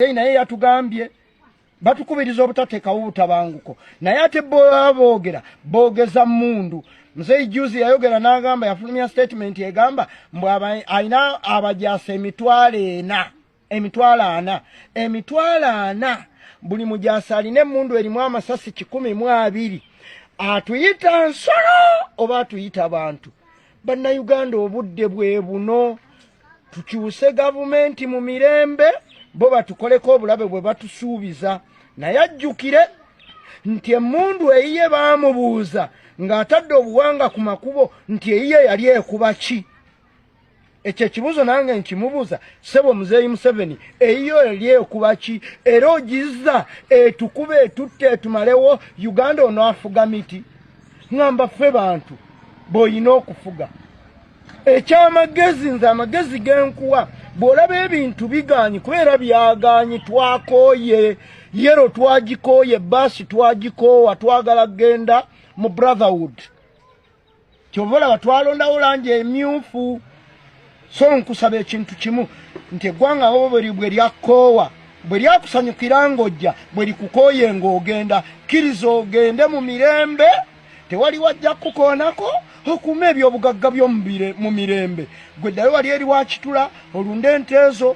Hey, naye yatugambye batukubiriza obutatekawo butabanguko naye ate boa boogera boogeza mundu mzei juzi yayogera nagamba yafulumya statement egamba mbu alina abajasa emitwalo ena emitwalo ana emitwalo ana buli mujasa alina emundu erimu amasasi kikumi mu abiri atuyita nsolo oba atuyita bantu bannayuganda obudde bwe buno tukyuse gavumenti mu mirembe bo batukoleko obulabe bwe batusuubiza naye ajjukire nti emmundu eyiye baamubuuza ng'atadde obuwanga ku makubo nti eyiye yali ekuba ki ekyo ekibuuzo nange nkimubuuza sebo muzeeyi museveni eyiyo yali ekuba ki era ogizza etukuba etutte etumalewo uganda onaafuga miti ngamba ffe bantu bw'olina okufuga ekyamagezi nze amagezi genkuwa bw'olaba ebintu bigaanyi kubeera byagaanyi twakooye yero twagikooye baasi twagikoowa twagala kgenda mu brotherhood kyova olaba twalondawo langi emyufu so nkusaba ekintu kimu nti eggwanga wobuli bwe lyakkoowa bwe lyakusanyukira ng'ojja bwe likukooye ng'ogenda kkiriza ogende mu mirembe tewali wajja kukukoonako okuuma ebyobugagga byo mu mirembe gwe ddayo wali eri wakitula olunde enteezo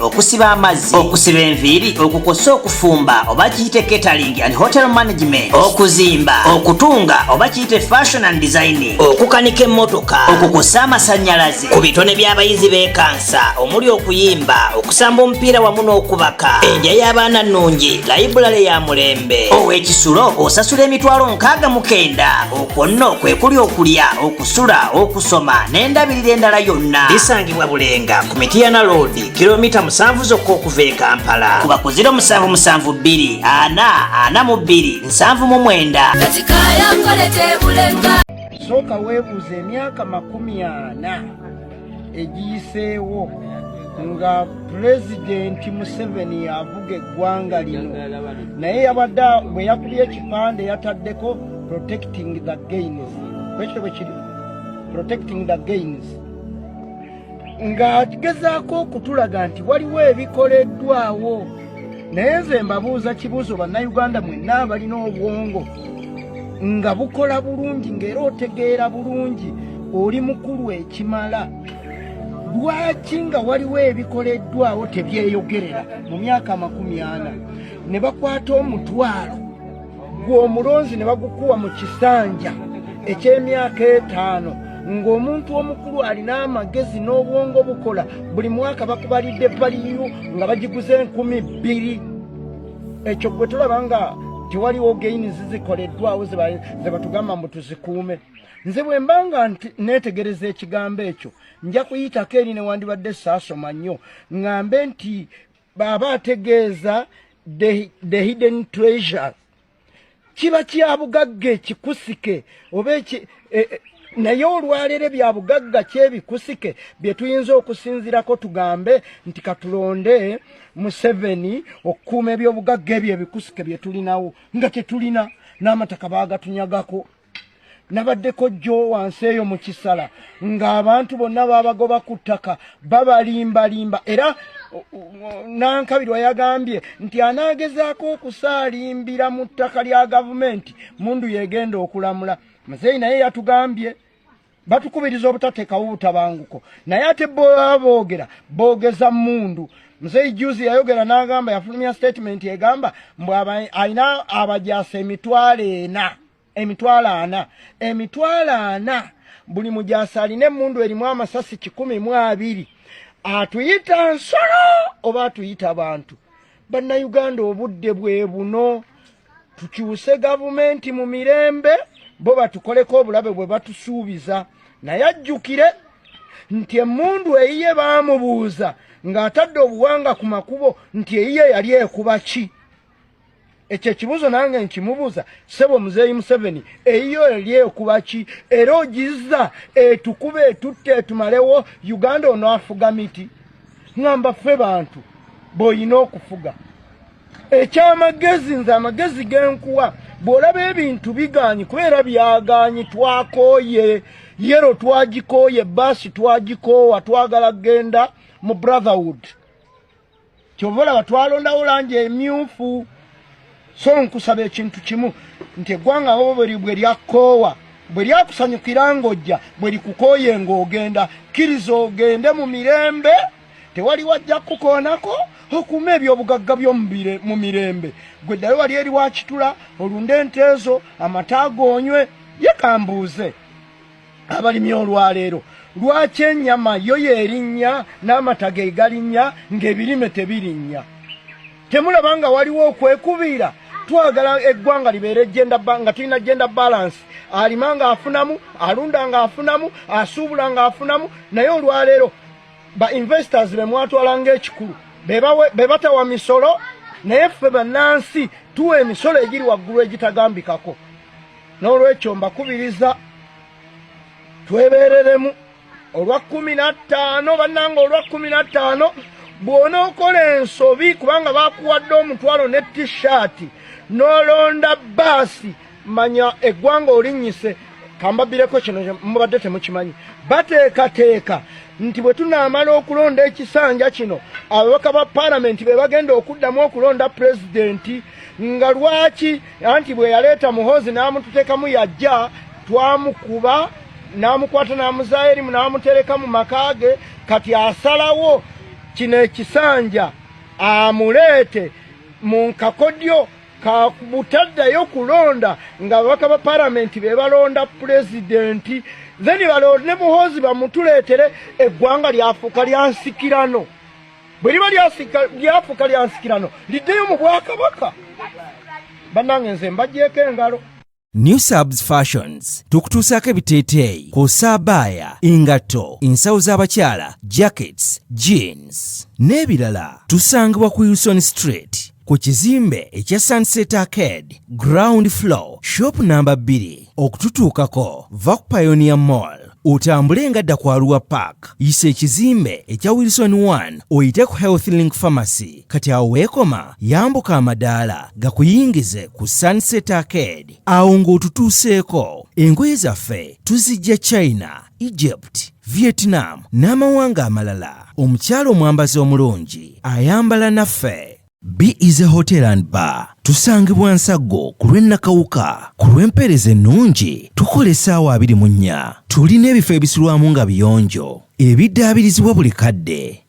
okusiba amazzi okusiba enviiri okukosa okufumba oba kiyite catering and hotel management okuzimba okutunga oba kiyite fashion and designing okukanika emmotoka okukosa amasanyalaze ku bitone by'abayizi bekansa omuli okuyimba okusamba omupiira wamu n'okubaka enja y'abaana nnungi layibulale ya mulembe ow'ekisulo osasula emitwalo nkaaga mukenda okwo nno kwe kuli okulya sula okusoma n'endabirira endala yonna bisangibwa bulenga ku mitiyana loodi kilomita musanvu zokka okuva e kampala kuba ku 0772 ana ana mu bbiri nsanvu mu mwenda sooka weebuuza emyaka makumi ana egiyiseewo nga pulezidenti museveni avuga eggwanga lino naye yabadde bwe yakubye ekipande yataddeko protecting the gains kwekyo bwe kiri protecting the gains ng'agezaako okutulaga nti waliwo ebikoleddwawo naye nze mbabuuza kibuuzo bannayuganda mwenna abalina obwongo nga bukola bulungi ng'era otegeera bulungi oli mukulu ekimala lwaki nga waliwo ebikoleddwawo tebyeyogerera mu myaka amakumi ana ne bakwata omutwalo gw'omulonzi ne bagukuwa mu kisanja eky'emyaka etaano ng'omuntu omukulu alina amagezi n'obwongo bukola buli mwaka bakubalidde paliyo nga bagiguze enkumi bbiri ekyo gwe tulaba nga tewaliwo gaini zizikoleddwawo zebatugamba mbu tuzikuume nze bwe mbanga nti neetegereza ekigambo ekyo nja kuyitako eri newandibadde saasoma nnyo ŋŋambe nti baaba ategeeza the hidden treasure kiba kyabugagga ekikusike oba e, e, naye olwaleero bya bugagga kyebikusike bye tuyinza okusinzirako tugambe nti katulonde museveni okukuuma ebyobugagga ebyo ebikusike bye tulinawo nga tetulina n'amataka baagatunyagako nabadde kojjo wansi eyo mu kisala ng'abantu bonna babagoba ku ttaka babalimbalimba era nankabirwa yagambye nti anaagezaako okusaalimbira mu ttaka lya gavumenti mundu yegenda okulamula muzeeyi naye yatugambye batukubiriza obutatekawo butabanguko naye ate boa boogera boogeza mundu mzei juzi yayogera n'agamba yafulumya statement egamba mbu alina abajasa emitwalo ena emitwalo ana emitwalo ana buli mujasa alina emundu erimu amasasi kikumi mu abiri atuyita nsolo oba atuyita bantu bannayuganda obudde bwe buno tukyuse gavumenti mu mirembe bo batukoleko obulabe bwe batusuubiza naye ajjukire nti emundu eyiye baamubuuza ng'atadde obuwanga ku makubo nti eyiye yali ekuba ki ekyo ekibuuzo nange nkimubuuza sebo muzeeyi museveni eyiyo yali ekuba ki era ogizza etukuba etutte etumalewo uganda onaafuga miti ngamba ffe bantu bw'olina okufuga ekyamagezi nze amagezi genkuwa bw'olaba ebintu bigaanyi kubeera byagaanyi twakooye yero twagikooye baasi twagikoowa twagala kugenda mu brotherhood kyova olaba twalondawo langi emyufu so nkusaba ekintu kimu nti eggwanga wo bwe lyakoowa bwe lyakusanyukira ng'ojja bwe likukooye ng'ogenda kkiriza ogende mu mirembe tewali wajja kukukoonako okuuma ebyobugagga byo mu mirembe gwe ddayo wali eri wakitula olunde enteezo amata goonywe yekambuuze abalimi olwaleero lwaki enyama yo yerinnya n'amata ge galinnya ng'ebirime tebirinnya temulaba nga waliwo okwekubiira twagala eggwanga libeere nga tulina genda balansi alima ng'afunamu alunda ng'afunamu asuubula ng'afunamu naye olwaleero ba investors be mwatwala ng'ekikulu be batawa misolo naye ffe bannansi tuwa emisolo egiri waggulu egitagambikako n'olwekyo mbakubiriza twebereremu olwa kumi na ttaano bannanga olwa kumi na ttaano bw'onookola ensobi kubanga bakuwadde omutwalo ne tishaati n'olonda baasi manya eggwanga olinnyise kambabireko kino mubadde temukimanyi bateekateeka nti bwe tunaamala okulonda ekisanja kino ababaka ba palamenti be bagenda okuddamu okulonda pulezidenti nga lwaki anti bwe yaleeta muhoozi n'amututekamu yajja twamukuba n'amukwata n'amuzaayo erimu n'amutereka mu maka ge kati asalawo kino ekisanja amuleete mu nkakodyo kabutaddayo kulonda nga ababaka ba palamenti be balonda pulezidenti then balonde muhoozi bamutuleetere eggwanga lyafuuka lyansikirano bwe liba lyafuuka lya nsikirano liddeyo mu bwakabaka bannange nze mbagyeko engalo new subs fashions tukutuusaako ebiteeteeyi kosaabaaya engatto ensawo z'abakyala jackets jeans n'ebirala tusangibwa ku uson street ku kizimbe ekya Sunset Arcade ground floor shop namba 2 okututuukako va ku Pioneer Mall otambule nga dda ku Arua Park yisa ekizimbe ekya Wilson 1 oyite ku Health Link Pharmacy kati awo weekoma yambuka amadaala gakuyingize ku Sunset Arcade awo ng'otutuuseeko engoye zaffe tuzijja China, Egypt Vietnam n'amawanga amalala omukyala omwambazi omulungi ayambala naffe Be is a hotel and bar tusangibwa nsaggo ku lw'e Nakawuka ku lw'empeereza ennungi tukola essaawa abiri mu nnya tulina ebifo ebisulwamu nga biyonjo ebiddaabirizibwa buli kadde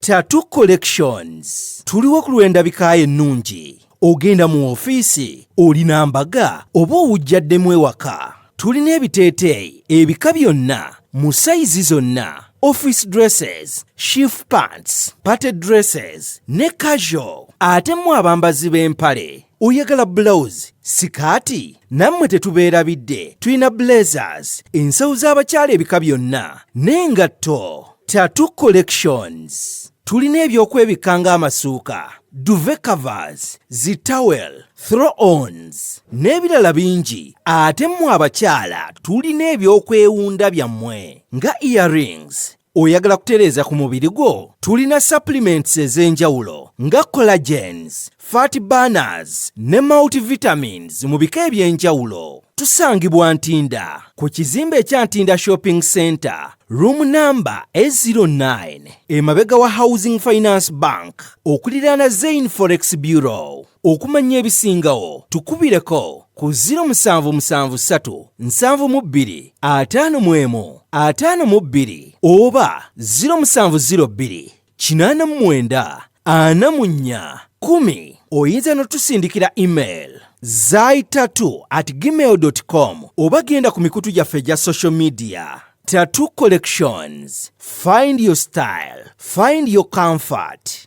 Tattoo Collections tuliwo ku lw'endabika ennungi ogenda mu ofiisi olina mbaga oba owujjaddemu ewaka tulina ebiteeteeyi ebika byonna mu sayizi zonna office dresses shift pants party dresses ne casual ate mu abambazi b'empale oyagala bulawuzi sikaati nammwe tetubeerabidde tulina blazers ensawo z'abakyala ebika byonna n'engatto tatu collections tulina ebyokwebikka ng'amasuuka duve covers zitawel throw ons n'ebirala bingi ate mmwe abakyala tulina ebyokwewunda byammwe nga earrings Oyagala kutereeza ku mubiri gwo? Tulina supplements ez'enjawulo nga collagens, fat burners ne multivitamins mu bika eby'enjawulo. Tusangibwa Ntinda ku kizimbe ekya Ntinda Shopping Center, room number A09, emabega wa Housing Finance Bank, okuliraana Zain Forex Bureau. okumanya ebisingawo tukubireko ku 0773752551 oba 07028994 oyinza notusindikira email zaitatu at gmail com oba genda ku mikutu gyaffe egya social media Tattoo Collections. Find your style, find your comfort.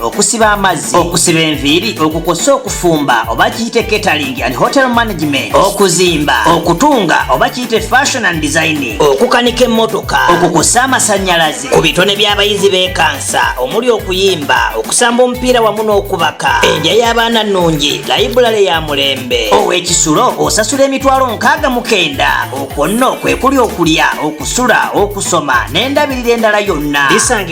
okusiba amazzi okusiba enviiri okukosa okufumba oba kiyite catering and hotel management okuzimba okutunga oba kiyite fashion and designing okukanika emmotoka okukosa amasanyalaze ku bitone by'abayizi bekansa omuli okuyimba okusamba omupiira wamu n'okubaka enja y'abaana nnungi layibulale ya mulembe ow'ekisulo osasula emitwalo nkaaga mukenda okwo nno kwe kuli okulya okusula okusoma n'endabirira endala yonna bisanga